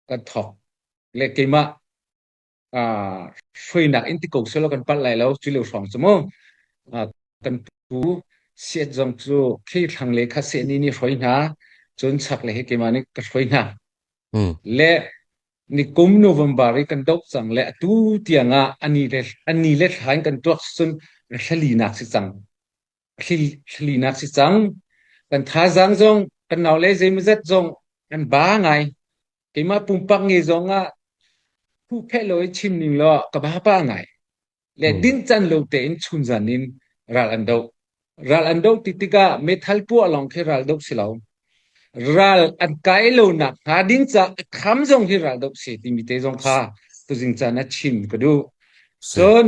kan thawk le keimah uh, hruainak in ti ko selaw kan palh lai lo cu leu hrawng cu mu uh, kan pu siat zong cu thei thlang le kha se ni ni hroi hna cun chak le he keimah nih ka hroi hna le nikum november i kan dop cang le atu tiang ah ani le ani le thlain kan tuak cun rhlali nak si cang Hlihnak si cang. Kan thazaang zong, kan naule zeimawzat zong an ba ngai. Keimah pumpak nge zong ah huhphehlaw i chim ning law ka ba pah ngai. Le dinhcan lo tein chunzan in ral an doh. Ral an doh ti tikah meithal puah lawng khi ral doh si lo. Ral an kai lo nak hnga ding caah a kham zong hi ral doh si timi te zong kha tuzing can a chim ka duh. Cun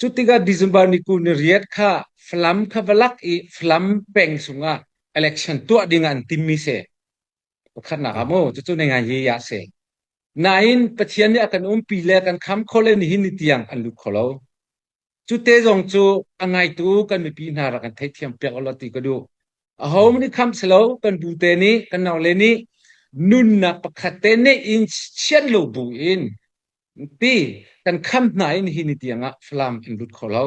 Cutikah December ni kul ni riat kha Falam kha va lak i Falam peng sungah election tuah dingah an timmi si. Pakhatnak ah mu, cucu na ngai ye ya si. Nain Pathian nih a kan umpi le kan kham kho le nihin ni tiang an lut kho lo. Cu te zong cu a ngaitu kan mipi hna rak kan theihthiam piak lo ti ka duh. Aho nih kham si lo, kan bu te nih, kan nau le nih nunnak pakhat te neih in chiat lo bu in ti kan kham hna i nihin ni tiangah Falam an lut kho lo.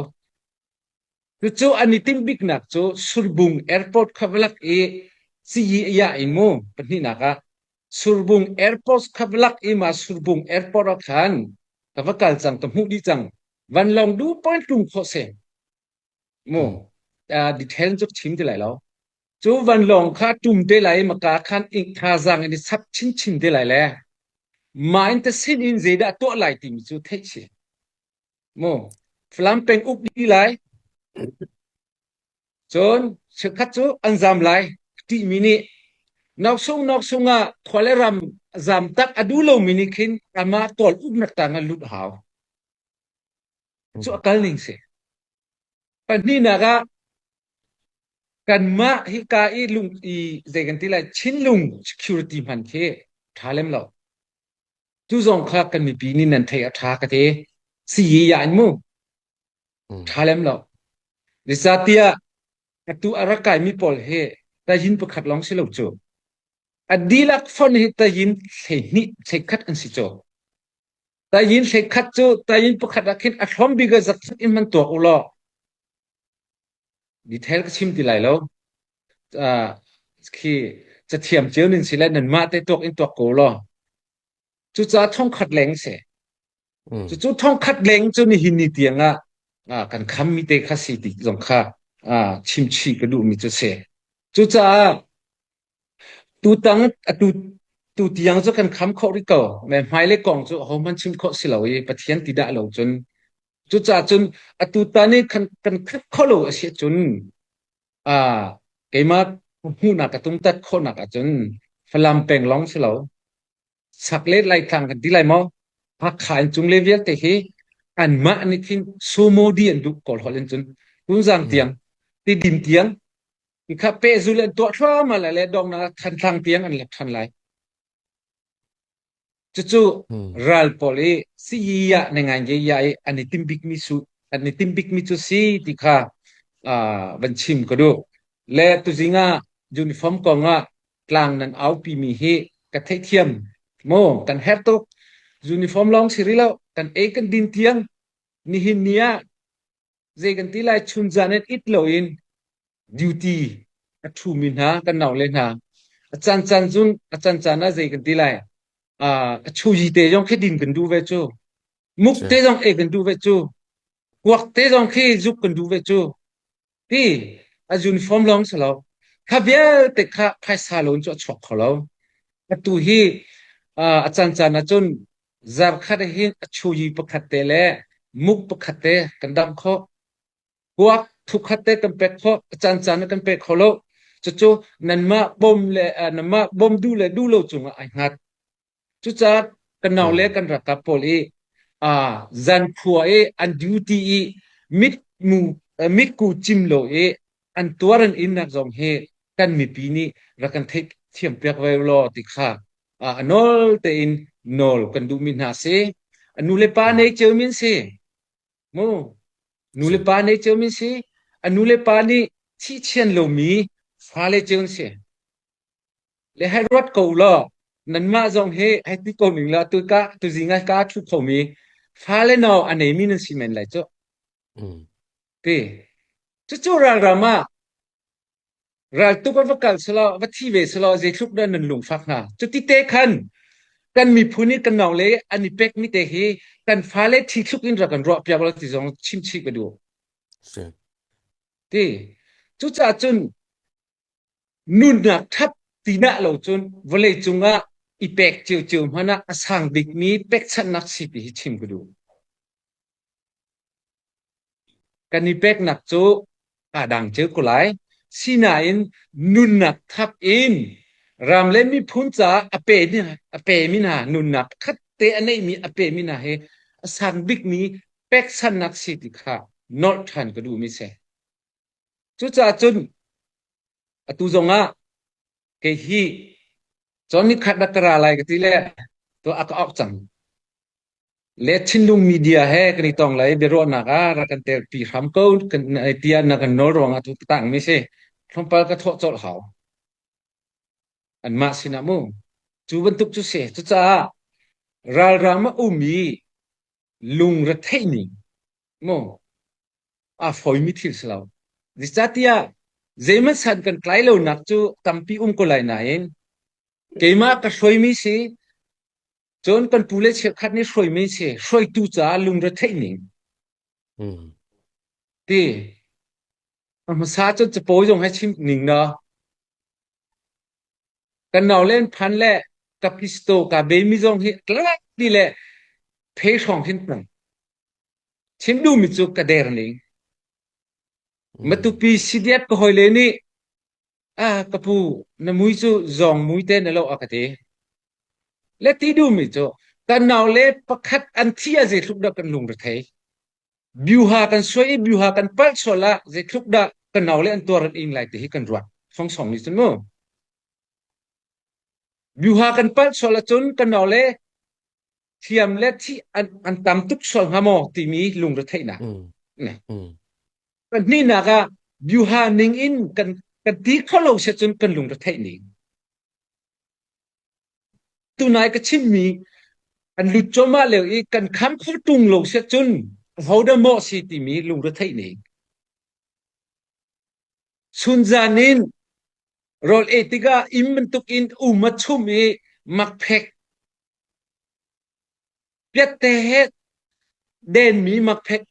Cucu an i timh biknak cu Surbung Airport kha va lak i siyi ya i mu pahnihnak ah Surbung Airport kha va lak i ma Surbung Airport ah khan ka va kal cang ka hmuh dih cang van long du point tlung khawh se Mu detail cu chim ti lai lo. Cu vanlawng kha ṭum te lai i maka khan ing thazaang in i chap chinchin te lai le mah in te sin in zeidah tuah lai timi cu theih si. Mu Falam peng uk dih lai. Cun cheukhat cu an zam lai ṭihmi nih Noksung noksung ah khua le ram zam tak a duh lomi nih khin ama tawl uknak tangah lut hau. cu a kal ning si. Pahnihnak ah, kanmah hika i lung i zei kan ti lai Chinlung security hman khi ṭha lem lo. Cu zong kha kan mipi nih nan theih a ṭha ka ti. Si ya in mu. Ṭha lem lo. Zeicahtiah atu a rak kaimi pawl hi tayin pakhat lawng si lo cu. A dihlak fon hi tayin hleihnih, hleikhat an si caw. Tayin hleikhat cu tayin pakhat ah khin a thlawm bik ah zakhat in hman tuak u law detail ka chim ti lai lo. Uh, khi cathiam cio nin si le nan mah te tuak in tuak ko law. Cucaah thongkhat leng se. Mm. Cucu thongkhat leng cu nihin ni tiang ah ah, kan kham mi te kha si ti zong kha ah, chimchi ka duh mi cu se. Cucaah Tutang atu tutiang cu kan kham khawh rih ko. Ve hmailei kong cu ahohmanh chim khawh si lo i Pathian ti dah lo cun. Cucaah cun atutan i kan, kan khat kho lo a si ahcun aa keimah hmuhnak ka tumtat khawhnak ahcun Falam peng lawng si lo, sak le Laitlang kan ti lai maw? Hakha in cung le vialte hi anmah nih khin sumo di an duh kawl holh in cun tunzang tiang, tidim tiang Mikha pehzul an tuah thluahmah lai le donghnak ah Thantlang tiang an let than lai. Cucu ral pawl i sii ah na ngai nge ya i an i tim bikmi su an i tim bikmi cu si ti kha uh, van chim ka duh. Le tuzing ah uniform kong ah tlang nan aupi mi hi ka theihthiam mo kan her tuk uniform long si rih lo kan ei kan din tiang nihin ni ah Zei kan ti lai, chun zan in it loin duty a ṭhumi hna kan naule hna a caan caan zun a caan caan ah zei kan ti lai uh, a chuji te zong khi din kan duh ve cu muk te zong e kan duh ve cu kuak te zong khi zuk kan duh ve cu ti a uniform lawng si lo kha vialte kha phaisa loin cu a chuak kho lo atu hi uh, a caan caan ah cun Zarkhat ah hin a chuhi pakhat te le muk pakhat te kan damh khawh. Kuak thukhat te kan pek khawh. A caan caan ah kan pek kho lo. Cucu nanmah bawm le uh, nanmah bawm du le du lo cungah ai hngat. Cucaah kan nau le kan rakap pawl i uh, zan khua i an duty i mit mu uh, mit ku cim lo i an tuaran innak zong hi kan mipi nih rak kan theih thiam piak ve law ti kha a nawl tein nawl kan duhmi hna si nu le pa nei ceu min si mu nu le pa nei ceu min si a nu le pa nih thihchian lomi fale ceu si le hai ruat ko law nanmah zong hi hai ti ko ning la tu ka tu zinga ka thu khomi fale no anei mi nan si men lai chu Cucu ralram ah raltuk a va kalh selaw, va thi ve selaw zeitluk dah nan lungfak hnga. Cuti te khan kan miphun i kan nong le an i pek mi te hi kan fale thi thluk in rak kan ruah piak lo ti zong chim chih ka duh. Ti. Cucaah cun nunnak ṭhat tinak lo cun vawlei cungah i pek cio cio hmanh ah a sang bikmi pekchanhnak si ti hi chim ka duh. Kan i peknak cu aa dang cio ko lai. Sinain nunnak thap in ram le miphun caah a pemi a pemi hna nunnak pakhat te a neihmi a pemi hna hi a sang bikmi peksannak si ti kha nolh ṭhan ka duhmi a si. Cucaah cun atu zongah kei hi cawn ni khat rak ka ra lai ka ti le tuah a ka awk cang. Le thinlung media he kan i tong lai i biaruahnak ah rak kan telpi hram ko tiah na kan nawl ruangah tu ka tangmi si. Tlawmpal ka thawh colh hau. Anmah sinah mu. Cu bantuk cu si. Cucaah ralrang a ummi lungretheihning mu aa fawimi thil si lo. Zeicatiah zeihmanh san kan tlai lonak cu tampi um ko lai nain keimah ka hruaimi si Cun kan pu le cheukhat nih hruaimi si hruaitu caah lungretheih ning ti a hmasa cun capawi zong he chim ning na kan nau len phan le ka pisto ka bemi zong hi tlak ti le thei hrawng hin tang chim du mi cu ka der ning matupi sidiat ka hoi le nih A ka pu, na mui cu zawng mui te na lo a ka ti. Le ti duhmi cu kan nau le pakhat an thi ah zeitluk dah kan lung rethei. Biuha kan suai i biuha kan palh sual ah zeitluk dah ka nau le an tuar an ing lai ti hi kan ruat. Songsong nih cun mu. Biuha kan palh sual ahcun ka nau le thiam le thi an, an tam tuk sual hnga maw timi lungretheihnak. Mm, Ne. mm, Pahnihnak ah byuha ning in kan kan ti kho lo set cun kan lungretheih ning. Tunai ka chimmi kan lut coma leo i kan kham kho tung lo set cun hoda maw si timi lungretheih ning. Sunzan in rol e tikah im bantuk in um a chum i makphek piatte he denmi makphek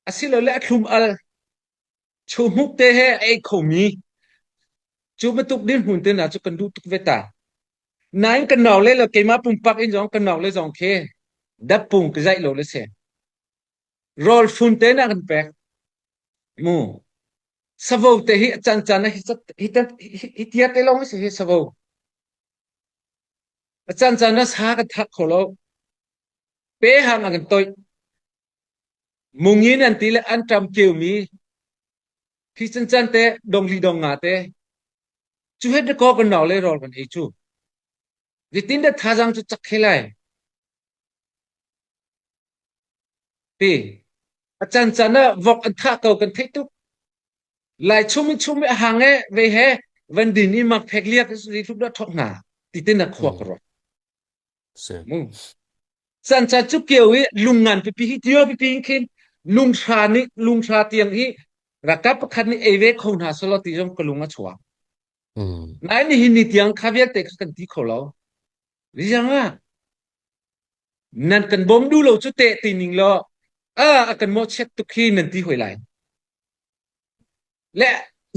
Asilole a thlum-al, chawhmuk te he a ei khomi, cu bantuk dirhmun te hna cu kan duh tuk ve ta. Nain kan nau le le keimah pumpak in zong kan nau le zong khi dappung ka zaih lo le si. Rawl fun tenak an pek. Mu. Savo te hi a can can hi cat hi te hi tia te lawng si hi savo. A can can na sa ka thak kho lo. Peham a kan toih. Mung in an ti le an ṭam kiomi phi cancan te dongli dong nga te cu het dakaw kan nau le rawl kan ei cu zitin da thazang cu cak he lai ti a cancan ah vok an thah ko kan theih tuk lai chung in chung mi a hang e ve he van din i mak phek liak zi thlup da thok hna ti tin a khuak ro Sansa cu keu i lung ngan pipi hi tio pipi hin khin lunghra nih lunghra tiang hi rakap pakhat nih ei ve kho hna selaw ti zong ka lung a chuak. Nai nihin ni tiang kha vialte kha kan ti kho lo. Rizang ah nan kan bawm du lo cu teh ti ning law a kan mawh chiat tuk hi nan ti hoi lai. Le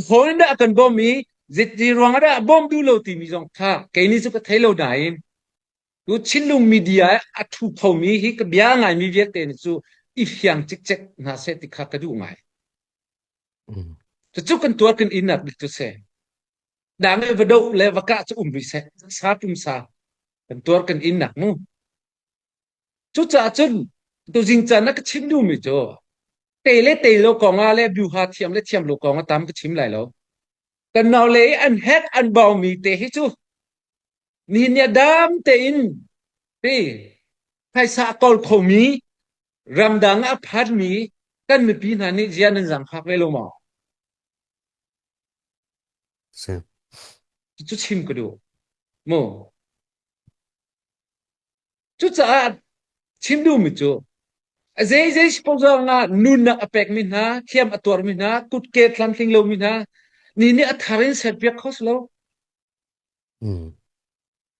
hlawn in dah a kan bawm i zeti ruangah dah a bawm duh lo timi zong kha keini cu ka thei lo nain tu Chinlung media a thu phomi hi ka bia ngaimi vialte nih cu i fiang cikcek hna seh ti kha ka duh ngai. Cucu kan tuar kan innak bik cu se. Dang le va do le va kah cu um rih seh. Sa tum sa. Kan tuar kan innak mu. Cucaah cun tuzing caan na ka chim duhmi cu te le te lo kongah le byuha thiam le thiam lo kongah tam ka chim lai lo. Kan naule i an hack an baumi te hi cu ni nia dam tein pi phaisa kol khomi ramdang ah phanmi kan mipi hna nih zia nan zang fak ve lo maw? Si. Cu chim ka duh. Mu. Cucaah chim duhmi cu zeizei sponsor ngah nunnak a pekmi hna, hliam a tuarmi hna, kutke tlamtling lomi hna, ni nih a thar in serpiak kho si lo.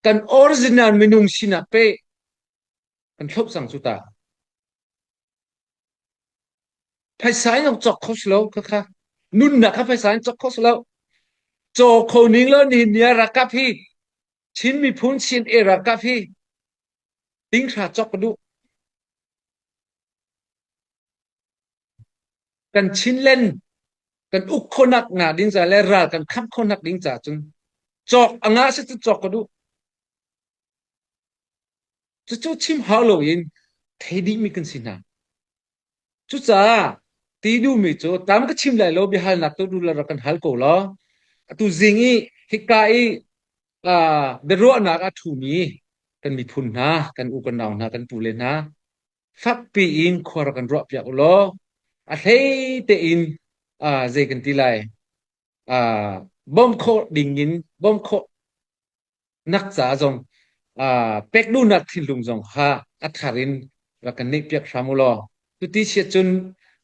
Kan original minung sinak pe kan thlop cang cu ta. Phaisa in nok cok kho si lo khakha. Nunnak kha phaisa in cok kho si lo. Caw kho ning lo ni nia rakap hi Chin miphun Chin e-ralkap hi tinghra cawk ka duh. Kan Chinland kan uk khonak nga ding ca le ral kan khamh khonak ding ca cun cawk a nga si cu cawk ka duh. Cucu chim hau lo in thei dihmi kan si hna. Cucaah tinu mi cu tlam ka chim lai lo biahalnak tu nu le rak kan hal ko law atu zing i hika i aa biaruahnak a ṭhumi kan miphun hna, kan u, kan nau hna, kan pule hna fakpi in khua rak kan ruahpiak u law a hlei tein aa zei kan ti lai, aa bawmh khawh ding in bawmh khawh nak caah zong aa pek duhnak thinlung zong kha a thar in rak kan neih piak hram u law cuti chiah cun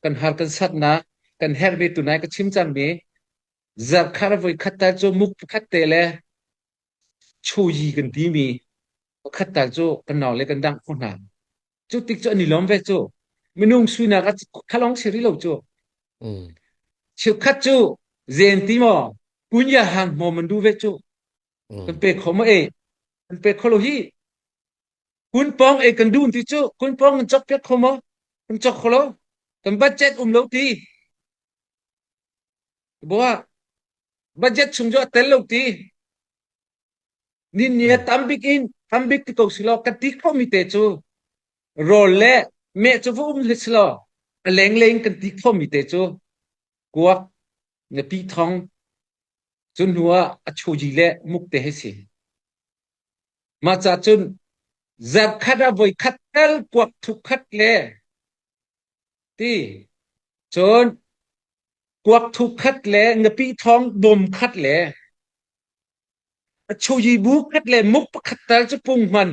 kan har kan satnak kan herh ve tu nai ka chim cangmi zarkhar voi khat tal cu muk pakhat te le chuyi kan timi pakhat tal cu kan nau le kan dangh khawh hna Cu tik cu an i lawm ve cu. Minung suinak a khalong si rih lo cu. Mm. Cheukhat cu zen ti maw kunya hang hmawm an duh ve cu. Kan Mm. pek kho maw e? Kan pek kho lo hi. Kun pawng e kan duh ti cu kun pawng kan cok piak kho maw? Kan cok kho lo. Kan budget um lo ti. Boa, budget chung cu a tel lo ti. Ninni a tam bik in ham bik ti ko si law ka ti khomi te cu rawl le meh cu va um hlah si law a lengleng kan ti khomi te cu kuak na pi thong cu hnu ah a chuji le muk te he si. Mah ca cun zarh khat a voi khat tal kuak thup khat le Cun kuak thu khat le napi thawng dawm khat le a chuyibu khat le muk pakhat tal cu pung hman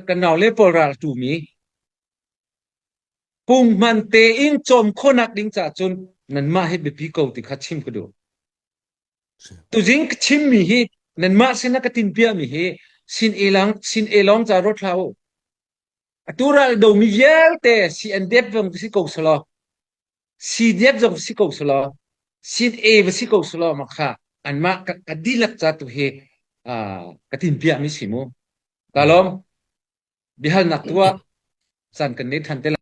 kan naule pawl ral ṭumi pung hman tein cawm khawhnak ding caah cun nanmah hi biapi ko ti kha chim ka duh. Tuzing ka chimmi hi nanmah sin a ka tin piahmi hi sin elong sin elong ca rot hlah u. Atu ral domi vialte CNDF zong si ko selaw, CDF zong si ko selaw, CNA va si ko selaw mah kha anmah ka, ka dihlak ca tu hi uh, ka tin piahmi si mu. Ka lawm. Biahalnak tu ah caan kan nei than te lai.